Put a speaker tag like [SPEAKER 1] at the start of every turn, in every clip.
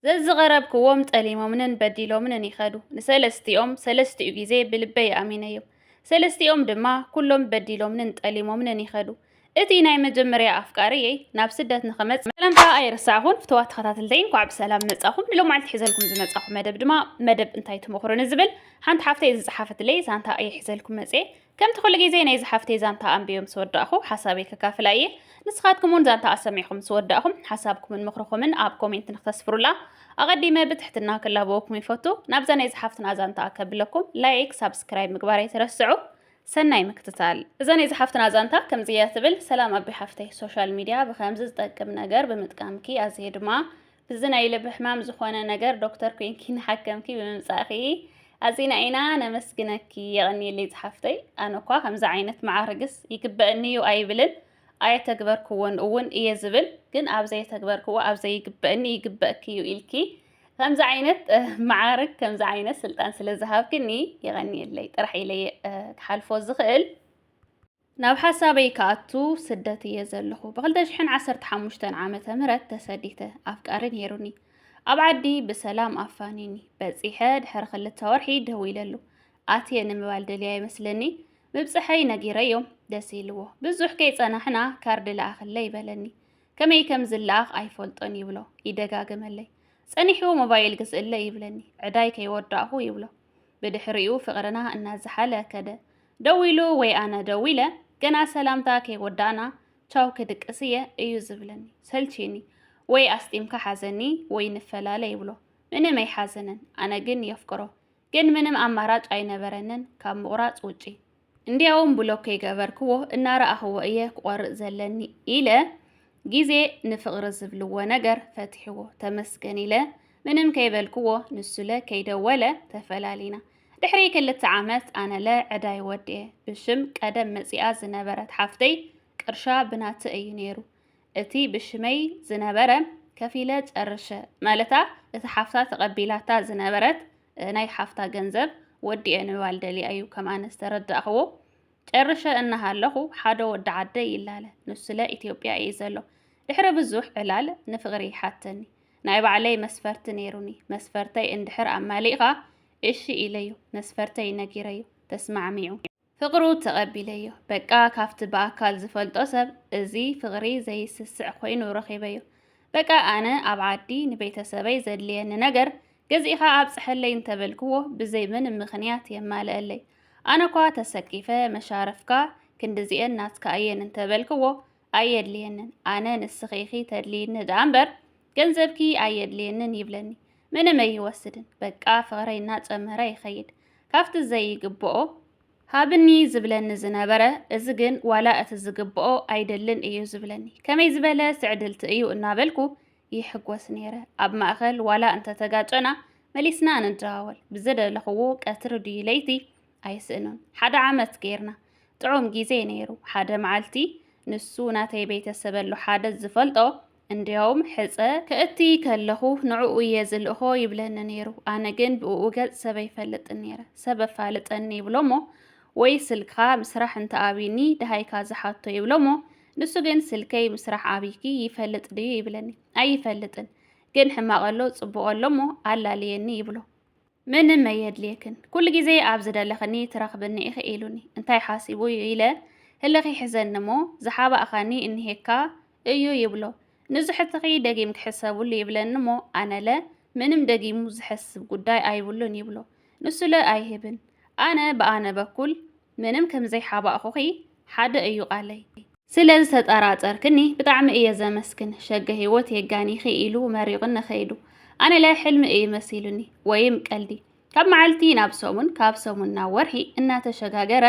[SPEAKER 1] ዘዝቐረብክዎም ጠሊሞምንን በዲሎምንን ይኸዱ። ንሰለስቲኦም ሰለስቲኡ ግዜ ብልበይ ኣሚነዮም። ሰለስቲኦም ድማ ኩሎም በዲሎምንን ጠሊሞምንን ይኸዱ። እቲ ናይ መጀመርያ ኣፍቃሪየይ ናብ ስደት ንኽመጽእ ሰላምታ ኣይረሳዕኹን። ፍትዋት ተኸታተልተይ እንኳዕ ብሰላም መጻኹም። ንሎማዕልቲ ሒዘልኩም ዝመጻኹ መደብ ድማ መደብ እንታይ ትመኽሩኒ ዝብል ሓንቲ ሓፍተይ ዝጸሓፈትለይ ዛንታ እየ ሒዘልኩም መጽየ። ከምቲ ኩሉ ግዜ ናይዚ ሓፍተይ ዛንታ ኣንቢበ ምስ ወዳእኹ ሓሳበይ ከካፍላ እየ። ንስኻትኩም እውን ዛንታኣ ሰሚዕኹም ምስ ወዳእኹም ሓሳብኩምን ምኽርኹምን ኣብ ኮሜንት ንክተስፍሩላ ኣቐዲመ ብትሕትና ክላበወኩም ይፈቱ። ናብዛ ናይዚ ሓፍትና ዛንታ ኣከብለኩም ላይክ ሳብስክራይብ ምግባር ኣይትረስዑ። ሰናይ ምክትታል። እዛ ናይዚ ሓፍትና ዛንታ ከምዚ እያ ትብል። ሰላም ኣቢ ሓፍተይ ሶሻል ሚድያ ብከምዚ ዝጠቅም ነገር ብምጥቃምኪ ኣዝየ ድማ እዚ ናይ ልብ ሕማም ዝኾነ ነገር ዶክተር ኮንኪ ንሓከምኪ ብምምጻእኺ ኣዚና ኢና ነመስግነኪ የቐንየለይ ዝሓፍተይ ኣነ እኳ ከምዚ ዓይነት መዓርግስ ይግበእኒ እዩ ኣይብልን ኣየተግበርክዎን እውን እየ ዝብል ግን ኣብ ዘየተግበርክዎ ኣብ ዘይግበእኒ ይግበእኪ እዩ ኢልኪ ከምዚ ዓይነት መዓርግ ከምዚ ዓይነት ስልጣን ስለ ዝሃብክኒ የቐንየለይ ጥራሕ ኢለየ ክሓልፎ ዝኽእል ናብ ሓሳበይ ክኣቱ ስደት እየ ዘለኹ። ብ2015 ዓመተ ምህረት ተሰዲተ ኣፍቃሪ ነይሩኒ ኣብ ዓዲ ብሰላም ኣፋኒኒ በፂሐ ድሕሪ ክልተ ወርሒ ደዊለሉ ኣትየ ንምባል ደልያ ይመስለኒ ምብፅሐይ ነጊረዮም ደስ ኢልዎ ብዙሕ ከይፀናሕና ካርድ ለኣኽለይ በለኒ ከመይ ከም ዝለኣኽ ኣይፈልጦን ይብሎ ይደጋግመለይ ፀኒሑ ሞባይል ግዝእለይ ይብለኒ ዕዳይ ከይወዳእኹ ይብሎ ብድሕሪኡ ፍቕርና እናዝሓለ ከደ። ደው ኢሉ ወይ ኣነ ደው ኢለ ገና ሰላምታ ከይወዳእና ቻው ክድቅስ እየ እዩ ዝብለኒ። ሰልቺኒ። ወይ ኣስጢምካ ሓዘኒ ወይ ንፈላለ ይብሎ። ምንም ኣይሓዘነን። ኣነ ግን የፍቅሮ። ግን ምንም ኣማራጭ ኣይነበረንን ካብ ምቑራጽ ውጪ። እንዲያውም ብሎክ ከይገበርክዎ እናረኣኽዎ እየ ክቖርፅ ዘለኒ ኢለ ግዜ ንፍቕሪ ዝብልዎ ነገር ፈቲሕዎ ተመስገን ኢለ ምንም ከይበልክዎ ንሱለ ከይደወለ ተፈላሊና። ድሕሪ ክልተ ዓመት ኣነለ ዕዳይ ወዲኤ ብሽም ቀደም መፂኣ ዝነበረት ሓፍተይ ቅርሻ ብናተ እዩ ነይሩ እቲ ብሽመይ ዝነበረ ከፊለ ጨርሸ ማለታ እቲ ሓፍታ ተቐቢላታ ዝነበረት ናይ ሓፍታ ገንዘብ ወዲኤ ንባል ደሊያ እዩ ከም ኣነ ዝተረዳእኽዎ ጨርሸ እናሃለኹ ሓደ ወዲ ዓደይ ይላለ ንሱለ ኢትዮጵያ እዩ ዘሎ ድሕሪ ብዙሕ ዕላል ንፍቕሪ ይሓተኒ ናይ ባዕለይ መስፈርቲ ነይሩኒ መስፈርተይ እንድሕር ኣማሊእኻ እሺ ኢለዩ መስፈርተይ ነጊረዩ ተስማዕሚዑ ፍቕሩ ተቐቢለዮ። በቃ ካብቲ ብኣካል ዝፈልጦ ሰብ እዚ ፍቕሪ ዘይስስዕ ኮይኑ ረኺበዮ። በቃ ኣነ ኣብ ዓዲ ንቤተሰበይ ዘድልየኒ ነገር ገዚእኻ ኣብጽሐለይ እንተበልክዎ ብዘይ ምንም ምኽንያት የማልእለይ። ኣነኳ ተሰኪፈ መሻርፍካ ክንድዚኤን ናትካ እየን እንተበልክዎ ኣየድልየንን ኣነ ንስኺ ኢኺ ተድልይኒ ደኣ እምበር ገንዘብኪ ኣየድልየንን ይብለኒ ምንም ኣይወስድን በቃ ፍቕረይ እናጨመረ ይኸይድ ካብቲ ዘይግብኦ ሃብኒ ዝብለኒ ዝነበረ እዚ ግን ዋላ እቲ ዝግብኦ ኣይደልን እዩ ዝብለኒ ከመይ ዝበለ ስዕድልቲ እዩ እናበልኩ ይሕጎስ ነይረ ኣብ ማእኸል ዋላ እንተተጋጨና መሊስና ንደዋወል ብዝደለኽዎ ቀትሪ ድዩ ለይቲ ኣይስእኖን ሓደ ዓመት ገይርና ጥዑም ግዜ ነይሩ ሓደ መዓልቲ ንሱ ናተይ ቤተሰብ ኣሎ ሓደ ዝፈልጦ እንዲያውም ሕፀ ከእቲ ከለኹ ንዕኡ እየ ዝልእኾ ይብለኒ ነይሩ ኣነ ግን ብእኡ ገፅ ሰብ ኣይፈልጥን ነይረ ሰብ ኣፋልጠኒ ይብሎሞ ወይ ስልክኻ ምስራሕ እንተኣብዩኒ ድሃይካ ዝሓቶ ይብሎሞ ንሱ ግን ስልከይ ምስራሕ ኣብይኪ ይፈልጥ ድዩ ይብለኒ ኣይፈልጥን ግን ሕማቐሎ ጽቡቐሎሞ ኣላልየኒ ይብሎ ምንም ኣየድልየክን፣ ኩሉ ግዜ ኣብ ዝደለኽኒ ትረኽብኒ ኢኺ ኢሉኒ። እንታይ ሓሲቡ እዩ ኢለ ህልኽ ይሕዘኒ እሞ፣ ዝሓባእካኒ እኒሄካ እዩ ይብሎ። ንዝሕትኺ ደጊም ክሕሰብሉ ይብለኒ እሞ፣ ኣነለ ምንም ደጊሙ ዝሐስብ ጉዳይ ኣይብሉን ይብሎ። ንሱለ ኣይህብን። ኣነ ብኣነ በኩል ምንም ከም ዘይሓባእኹኺ ሓደ እዩ ቃለይ። ስለ ዝተጠራጠርክኒ ብጣዕሚ እየ ዘመስግን ሸገ ህይወት የጋኒኺ ኢሉ መሪቕኒ ከይዱ ኣነለ ሕልሚ እዩ መሲሉኒ ወይም ቀልዲ ካብ መዓልቲ ናብ ሰሙን ካብ ሰሙን ናብ ወርሒ እናተሸጋገረ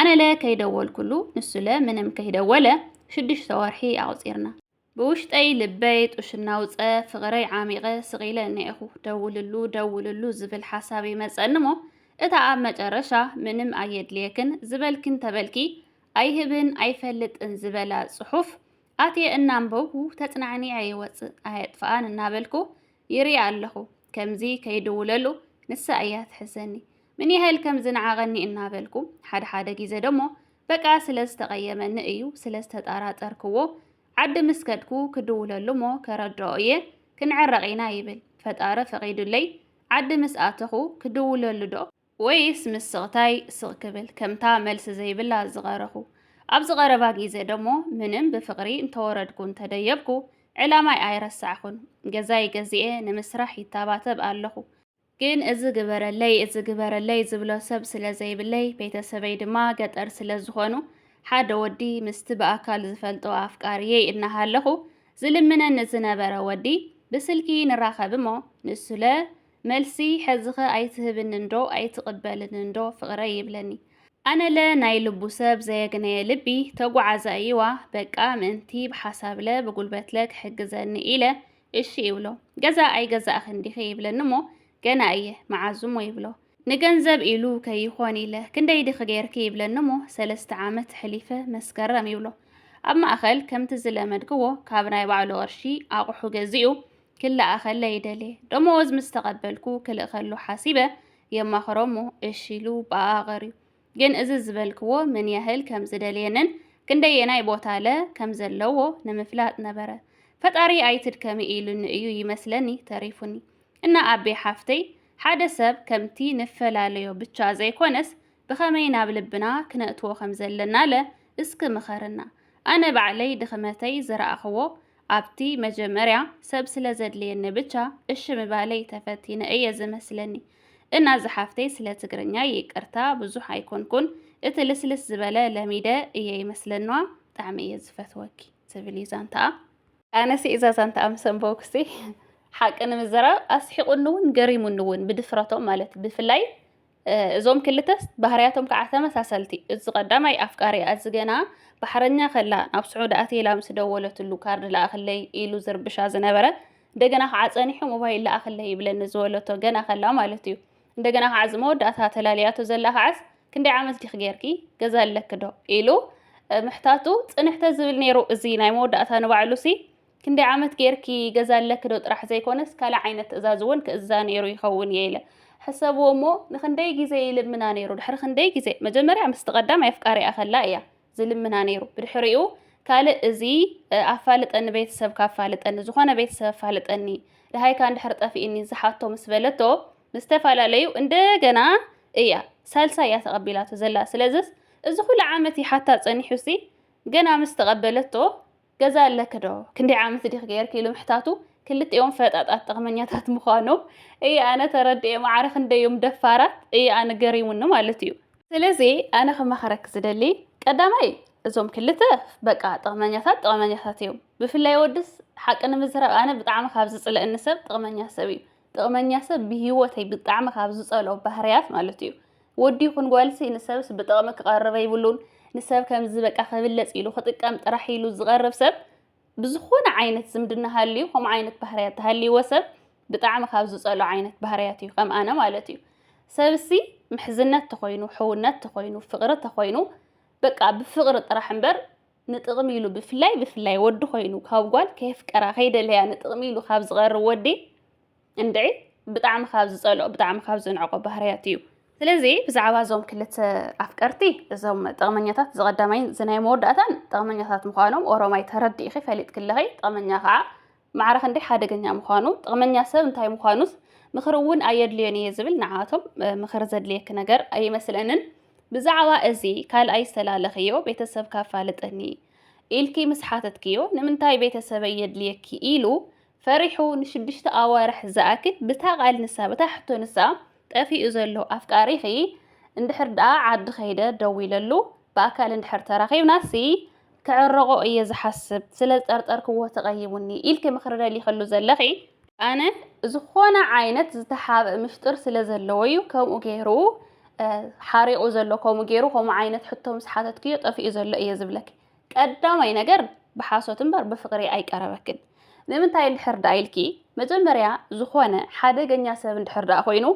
[SPEAKER 1] ኣነለ ከይደወልኩሉ ንሱለ ምንም ከይደወለ ሽዱሽተ ወርሒ ኣቑፂርና ብውሽጠይ ልበይ ጡሽ እናውፀ ፍቕረይ ዓሚቐ ስቒለ እኒኤኹ ደውልሉ ደውልሉ ዝብል ሓሳብ ይመፀኒ እሞ እታ ኣብ መጨረሻ ምንም ኣየድልየክን ዝበልኪ እንተበልኪ ኣይህብን ኣይፈልጥን ዝበላ ፅሑፍ ኣትየ እናንበብኩ ተፅናዕኒዐ ይወፅእ ኣየጥፍኣን እናበልኩ ይሪኣ ኣለኹ ከምዚ ከይድውለሉ ንሳ እያ ትሕሰኒ ምን ያህል ከም ዝነዓቐኒ እናበልኩ ሓደ ሓደ ግዜ ደሞ በቃ ስለ ዝተቐየመኒ እዩ ስለ ዝተጠራጠርክዎ ዓዲ ምስ ከድኩ ክድውለሉ እሞ ከረድኦ እየ ክንዕረቕ ኢና ይብል ፈጣሪ ፈቒዱለይ ዓዲ ምስ ኣተኹ ክድውለሉ ዶ ወይስ ምስ ስቕታይ ስቕ ክብል ከምታ መልሲ ዘይብላ ዝቐረኹ? ኣብዚ ቀረባ ግዜ ደሞ ምንም ብፍቕሪ እንተወረድኩ እንተደየብኩ ዕላማይ ኣይረሳዕኩን። ገዛይ ገዚኤ ንምስራሕ ይታባተብ ኣለኹ። ግን እዚ ግበረለይ እዚ ግበረለይ ዝብሎ ሰብ ስለ ዘይብለይ ቤተሰበይ ድማ ገጠር ስለ ዝኾኑ ሓደ ወዲ ምስቲ ብኣካል ዝፈልጦ ኣፍቃርየይ እናሃለኹ ዝልምነኒ ዝነበረ ወዲ ብስልኪ ንራኸብ እሞ ንሱለ መልሲ ሐዚኸ ኣይትህብንን ዶ ኣይትቅበልንን ዶ ፍቅረይ ይብለኒ ኣነለ ናይ ልቡ ሰብ ዘየግነየ ልቢ ተጓዓዛ እይዋ በቃ ምእንቲ ብሓሳብለ ብጉልበትለ ክሕግዘኒ ኢለ እሺ እይብሎ ገዛ ኣይገዛእኽን ዲኺ ይብለኒ እሞ ገና እየ መዓዝ እሞ ይብሎ ንገንዘብ ኢሉ ከይኾን ኢለ ክንደይ ዲኺ ገይርኪ ይብለኒ እሞ ሰለስተ ዓመት ሕሊፈ መስከረም ይብሎ ኣብ ማእኸል ከምቲ ዝለመድክዎ ካብ ናይ ባዕሉ ቅርሺ ኣቁሑ ገዚኡ ክልኣ ከለ ይደልየ ደመወዝ ምስ ተቐበልኩ ክልእከሉ ሓሲበ የማኽሮሞ እሺ ኢሉ ብኣኣ ቀርዩ ግን እዚ ዝበልክዎ ምን ያህል ከም ዝደልየንን ክንደየናይ ቦታለ ከም ዘለዎ ንምፍላጥ ነበረ ፈጣሪ ኣይትድከሚ ኢሉኒ እዩ ይመስለኒ ተሪፉኒ እና ኣቤ ሓፍተይ ሓደ ሰብ ከምቲ ንፈላለዮ ብቻ ዘይኮነስ ብኸመይ ናብ ልብና ክነእትዎ ከም ዘለናለ እስኪ ምኸርና ኣነ ባዕለይ ድኽመተይ ዝረኣኽዎ ኣብቲ መጀመርያ ሰብ ስለ ዘድልየኒ ብቻ እሺ ምባለይ ተፈቲነ እየ ዝመስለኒ እና ዝሓፍተይ ስለ ትግርኛይ ይቅርታ ብዙሕ ኣይኮንኩን እቲ ልስልስ ዝበለ ለሚደ እየ ይመስለንዋ ብጣዕሚ እየ ዝፈትወኪ ትብል እዩ ዛንታኣ ኣነሲ እዛ ዛንታኣ ምስ ኣንበብኩሲ ሓቂ ንምዝራብ ኣስሒቁኒ እውን ገሪሙኒ እውን ብድፍረቶም ማለት ብፍላይ እዞም ክልተ ባህርያቶም ከኣ ተመሳሰልቲ እዚ ቀዳማይ ኣፍቃሪኣ እዚ ገና ባሕረኛ ከላ ናብ ስዑዲ ኣትይላ ምስ ደወለትሉ ካርድ ለኣኽለይ ኢሉ ዝርብሻ ዝነበረ እንደገና ከዓ ጸኒሑ ሞባይል ለኣኽለይ ይብለኒ ዝበለቶ ገና ከላ ማለት እዩ እንደገና ከዓ እዚ መወዳእታ ተላልያቶ ዘላ ከዓስ ክንደይ ዓመት ዲኺ ጌርኪ ገዛ ኣለኪ ዶ ኢሉ ምሕታቱ ጽንሕተ ዝብል ነይሩ እዚ ናይ መወዳእታ ንባዕሉሲ ክንደይ ዓመት ጌርኪ ገዛ ኣለኪ ዶ ጥራሕ ዘይኮነስ ካልእ ዓይነት ትእዛዝ እውን ክእዝዛ ነይሩ ይኸውን እየ ኢለ ሕሰብዎ እሞ ንክንደይ ግዜ ይልምና ነይሩ ድሕሪ ክንደይ ግዜ መጀመርያ ምስቲ ቀዳማይ ኣፍቃሪኣ ከላ እያ ዝልምና ነይሩ ብድሕሪኡ ካልእ እዚ ኣፋልጠኒ ቤተሰብካ ኣፋልጠኒ ዝኾነ ቤተሰብ ኣፋልጠኒ ደሃይካ እንድሕር ጠፊእኒ ዝሓቶ ምስ በለቶ ምስ ተፈላለዩ እንደገና እያ ሳልሳ እያ ተቐቢላቶ ዘላ ስለዝስ እዚ ኩሉ ዓመት ይሓታ ጸኒሑሲ ገና ምስ ተቐበለቶ ገዛ ኣለኪ ዶ ክንደይ ዓመት ዲኺ ጌርኪ ኢሉ ምሕታቱ ክልቲኦም ፈጣጣት ጥቕመኛታት ምዃኖም እየ ኣነ ተረዲኤ ማዕረ ክንደይ እዮም ደፋራት እየ ኣነ ገሪሙኒ ማለት እዩ ስለዚ ኣነ ክመኸረኪ ዝደሊ ቀዳማይ እዞም ክልተ በቃ ጥቕመኛታት ጥቕመኛታት እዮም ብፍላይ ወድስ ሓቂ ንምዝራብ ኣነ ብጣዕሚ ካብ ዝፅለእኒ ሰብ ጥቕመኛ ሰብ እዩ ጥቕመኛ ሰብ ብሂወተይ ብጣዕሚ ካብ ዝጸልኦ ባህርያት ማለት እዩ ወዲ ይኹን ጓልሲ ንሰብስ ብጥቕሚ ክቐርብ ኣይብሉን ንሰብ ከምዚ በቃ ክብለጽ ኢሉ ክጥቀም ጥራሕ ኢሉ ዝቐርብ ሰብ ብዝኾነ ዓይነት ዝምድና ሃልዩ ከምኡ ዓይነት ባህርያት ተሃልይዎ ሰብ ብጣዕሚ ካብ ዝጸልኦ ዓይነት ባህርያት እዩ ከም ኣነ ማለት እዩ ሰብሲ ምሕዝነት ተኾይኑ ሕውነት ተኾይኑ ፍቕሪ ተኾይኑ በቃ ብፍቕሪ ጥራሕ እምበር ንጥቕሚ ኢሉ ብፍላይ ብፍላይ ወዲ ኮይኑ ካብ ጓል ከየፍቀራ ከይደለያ ንጥቕሚ ኢሉ ካብ ዝቐርብ ወዲ እንድዒ ብጣዕሚ ካብ ዝፀልኦ ብጣዕሚ ካብ ዝንዕቆ ባህርያት እዩ። ስለዚ ብዛዕባ እዞም ክልተ ኣፍቀርቲ እዞም ጠቕመኛታት ዝቐዳማይን ዝናይ መወዳእታን ጠቕመኛታት ምዃኖም ኦሮማይ ተረዲእኺ ፈሊጥክለኺ ጠቕመኛ ከዓ ማዕረ ክንደይ ሓደገኛ ምዃኑ፣ ጥቕመኛ ሰብ እንታይ ምዃኑስ ምኽሪ እውን ኣየድልዮን እየ ዝብል ንዓኣቶም ምኽሪ ዘድልየኪ ነገር ኣይመስለንን። ብዛዕባ እዚ ካልኣይ ዝተላለኽዮ ቤተሰብካ ኣፋልጠኒ ኢልኪ ምስ ሓተትክዮ ንምንታይ ቤተሰበይ የድልየኪ ኢሉ ፈሪሑ ንሽዱሽተ ኣዋርሕ ዝኣክል ብታ ቃል ንሳ በታ ሕቶ ንሳ ጠፊኡ ዘሎ ኣፍቃሪኺ እንድሕር ደኣ ዓዲ ከይደ ደዊለሉ ብኣካል እንድሕር ተራኺብናሲ ክዕረቖ እየ ዝሓስብ ስለ ዝጠርጠርክዎ ተቐይሙኒ ኢልኪ ምኽሪ ደሊኽሉ ዘለኺ ኣነ ዝኾነ ዓይነት ዝተሓብእ ምሽጥር ስለ ዘለዎ እዩ ከምኡ ገይሩ ሓሪቑ ዘሎ ከምኡ ገይሩ ከምኡ ዓይነት ሕቶ ምስ ሓተትክዮ ጠፊኡ ዘሎ እየ ዝብለኪ ቀዳማይ ነገር ብሓሶት እምበር ብፍቅሪ ኣይቀረበክን ንምንታይ እንድሕር ደኣ ኢልኪ መጀመርያ ዝኾነ ሓደገኛ ሰብ እንድሕር ደኣ ኮይኑ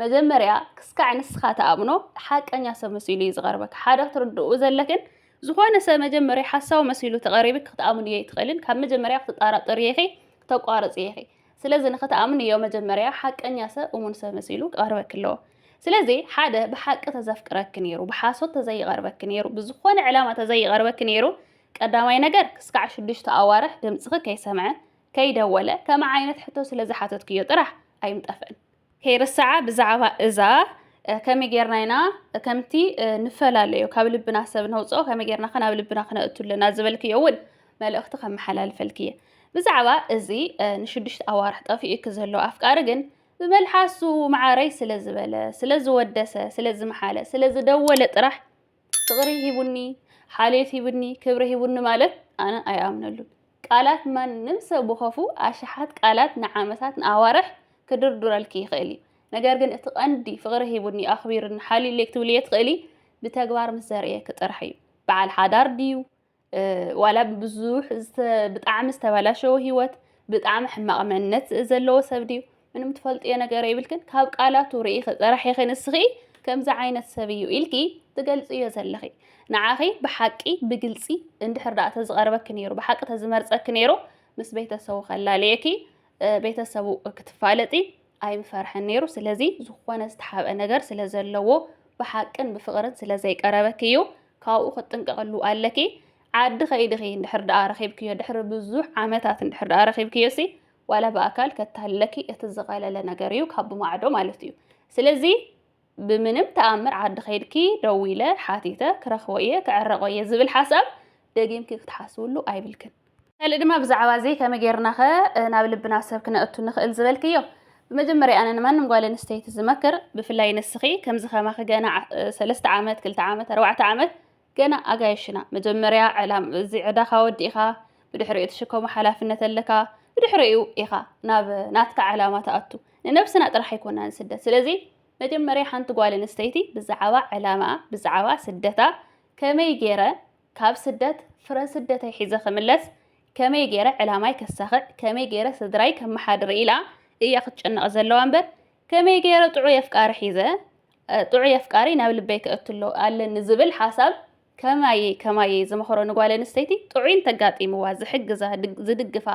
[SPEAKER 1] መጀመርያ ክስካዕ ንስኻ ተኣምኖ ሓቀኛ ሰብ መሲሉ እዩ ዝቐርበክ ሓደ ክትርድኡ ዘለክን ዝኾነ ሰብ መጀመርያ ሓሳዊ መሲሉ ተቐሪብክ ክትኣምንዮ ኣይትኽእልን ካብ መጀመርያ ክትጣራጠርዮ ኢኺ ክተቋርጽዮ ኢኺ ስለዚ ንኽትኣምንዮ መጀመርያ ሓቀኛ ሰብ እሙን ሰብ መሲሉ ክቐርበኪ ኣለዎ። ስለዚ ሓደ ብሓቂ ተዘፍቅረኪ ነይሩ ብሓሶት ተዘይቐርበኪ ነይሩ ብዝኾነ ዕላማ ተዘይቐርበኪ ነይሩ ቀዳማይ ነገር ክስካዕ ሽዱሽተ ኣዋርሕ ድምፅኺ ከይሰምዐ ከይደወለ ከምዓይነት ሕቶ ስለዝሓተትክዮ ጥራሕ ኣይምጠፍእን። ከይርሳዓ ብዛዕባ እዛ ከመይ ጌርና ኢና ከምቲ ንፈላለዮ ካብ ልብና ሰብ ነውፅኦ ከመይ ጌርና ከ ናብ ልብና ክነእቱ ኣለና ዝበልክዮ እውን መልእኽቲ ከመሓላልፈልኪ እየ ብዛዕባ እዚ ንሽዱሽተ ኣዋርሕ ጠፊኡኪ ዘሎ ኣፍቃሪ ግን ብመልሓሱ መዓረይ ስለ ዝበለ ስለ ዝወደሰ ስለ ዝመሓለ ስለ ዝደወለ ጥራሕ ፍቅሪ ሂቡኒ ሓልዮት ሂቡኒ ክብሪ ሂቡኒ ማለት ኣነ ኣይኣምነሉን ቃላት ማንም ሰብ ብኸፉ ኣሽሓት ቃላት ንዓመታት ንኣዋርሕ ክድርዱረልኪ ይኽእል እዩ ነገር ግን እቲ ቀንዲ ፍቅሪ ሂቡኒ ኣኽቢሩኒ ሓልዩለይ ክትብልዮ ትኽእሊ ብተግባር ምስ ዘርእየኪ ጥራሕ እዩ በዓል ሓዳር ድዩ ዋላ ብብዙሕ ብጣዕሚ ዝተበላሸወ ህይወት ብጣዕሚ ሕማቕ መንነት ዘለዎ ሰብ ድዩ ምንም ትፈልጥዮ ነገር የብልክን ካብ ቃላቱ ርኢኺ ጥራሕ ኢኺ ንስኺ ከምዚ ዓይነት ሰብ እዩ ኢልኪ ትገልፅዮ ዘለኺ ንዓኺ ብሓቂ ብግልፂ እንድሕር ደኣ ተዝቐርበኪ ነይሩ ብሓቂ ተዝመርፀኪ ነይሩ ምስ ቤተሰቡ ከላልየኪ ቤተሰቡ ክትፋለጢ ኣይምፈርሐን ነይሩ ስለዚ ዝኾነ ዝተሓብአ ነገር ስለ ዘለዎ ብሓቅን ብፍቕርን ስለ ዘይቀረበኪ እዩ ካብኡ ክትጥንቀቐሉ ኣለኪ ዓዲ ከይድኺ እንድሕር ደኣ ረኺብክዮ ድሕሪ ብዙሕ ዓመታት እንድሕር ደኣ ረኺብክዮ ሲ ዋላ ብኣካል ከታለኪ እቲ ዝቐለለ ነገር እዩ ካብ ብማዕዶ ማለት እዩ ስለዚ ብምንም ተኣምር ዓዲ ከይድኪ ደዊለ ሓቲተ ክረኽቦ እየ ክዕረቆ እየ ዝብል ሓሳብ ደጊምኪ ክትሓስብሉ ኣይብልክን። ካልእ ድማ ብዛዕባ እዚ ከመይ ጌርናኸ ናብ ልብና ሰብ ክነእቱ ንኽእል ዝበልክዮ፣ ብመጀመርያ ኣነ ንማንም ጓል ኣንስተይቲ ዝመክር ብፍላይ ንስኺ ከምዚ ከማኺ ገና ሰለስተ ዓመት ክልተ ዓመት ኣርባዕተ ዓመት ገና ኣጋይሽ ኢና መጀመርያ ዕላም እዚ ዕዳኻ ወዲእኻ ብድሕሪኡ ትሽከሞ ሓላፍነት ኣለካ ብድሕሪኡ ኢኻ ናብ ናትካ ዕላማ ትኣቱ ንነብስና ጥራሕ ኣይኮናን ስደት ስለዚ መጀመርያ ሓንቲ ጓል ኣንስተይቲ ብዛዕባ ዕላማኣ ብዛዕባ ስደታ ከመይ ገይረ ካብ ስደት ፍረ ስደተይ ሒዘ ክምለስ ከመይ ገይረ ዕላማይ ከሳኽዕ ከመይ ገይረ ስድራይ ከመሓድር ኢላ እያ ክትጨነቕ ዘለዋ እምበር ከመይ ገይረ ጥዑይ ኣፍቃሪ ሒዘ ጥዑይ ኣፍቃሪ ናብ ልበይ ክእትሎ ኣለኒ ዝብል ሓሳብ ከማየይ ከማየይ ዝመኸሮ ንጓል ኣንስተይቲ ጥዑይ እንተጋጢምዋ ዝሕግዛ ዝድግፋ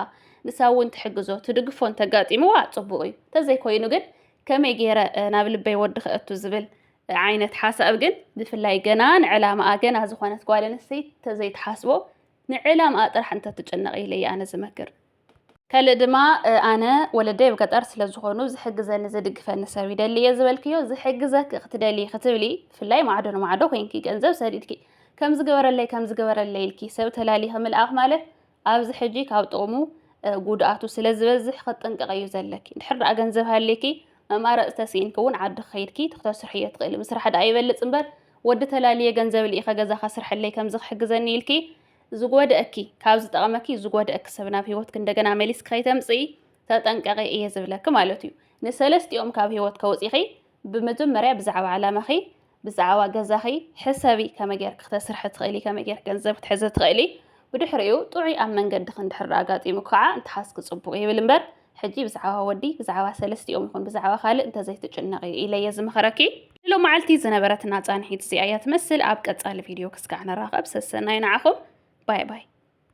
[SPEAKER 1] ንሳ እውን ትሕግዞ ትድግፎ እንተጋጢምዋ ፅቡቕ እዩ ተዘይኮይኑ ግን ከመይ ገይረ ናብ ልበይ ወዲ ክእቱ ዝብል ዓይነት ሓሳብ ግን ብፍላይ ገና ንዕላማኣ ገና ዝኾነት ጓል ኣንስተይቲ ተዘይትሓስቦ ንዕላማኣ ጥራሕ እንተትጭነቕ ኢለ ኣነ ዝመክር ከልእ ድማ ኣነ ወለደይ ኣብ ገጠር ስለዝኾኑ ዝሕግዘኒ ዝድግፈኒ ሰብ ይደሊ እየ ዝበልክዮ ዝሕግዘኪ ክትደልዪ ክትብሊ ብፍላይ ማዕዶ ንማዕዶ ኮንኪ ገንዘብ ሰዲድኪ ከም ዝገበረለይ ከም ዝገበረለይ ኢልኪ ሰብ ተላሊኺ ምልኣኽ ማለት ኣብዚ ሕጂ ካብ ጥቕሙ ጉድኣቱ ስለ ዝበዝሕ ክጥንቀቕ እዩ ዘለኪ ድሕር ደኣ ገንዘብ ሃልኪ መማረፅ ተስኢንኪ እውን ዓዲ ክኸይድኪ ትክተስርሒ እዮ ትኽእሊ ምስራሕ ደኣ ይበልፅ እምበር ወዲ ተላልየ ገንዘብ ልኢኸ ገዛ ከስርሐለይ ከምዚ ክሕግዘኒ ኢልኪ ዝጎድእኪ ካብ ዝጠቕመኪ ዝጎድእኪ ሰብ ናብ ሂወትኪ እንደገና መሊስኪ ከይተምፅኢ ተጠንቀቂ እየ ዝብለኪ ማለት እዩ። ንሰለስቲኦም ካብ ሂወት ከውፂኺ ብመጀመርያ ብዛዕባ ዕላማኺ ብዛዕባ ገዛኺ ሕሰቢ ከመይ ጌርኪ ክተስርሒ ትኽእሊ ከመይ ጌርኪ ገንዘብ ክትሕዚ ትኽእሊ ብድሕሪኡ ጥዑይ ኣብ መንገድኺ እንድሕር ኣጋጢሙኪ ከዓ እንትሓስኪ ፅቡቕ ይብል እምበር ሕጂ ብዛዕባ ወዲ ብዛዕባ ሰለስቲኦም ይኹን ብዛዕባ ካልእ እንተዘይትጭነቒ ኢለ'የ ዝምኽረኪ። ንሎማዓልቲ ዝነበረትና ጻንሒት እዚኣ እያ ትመስል ኣብ ቀጻሊ ቪድዮ ክስካዕ ንራኸብ ሰሰናዩ ንዓኹም ባይ ባይ።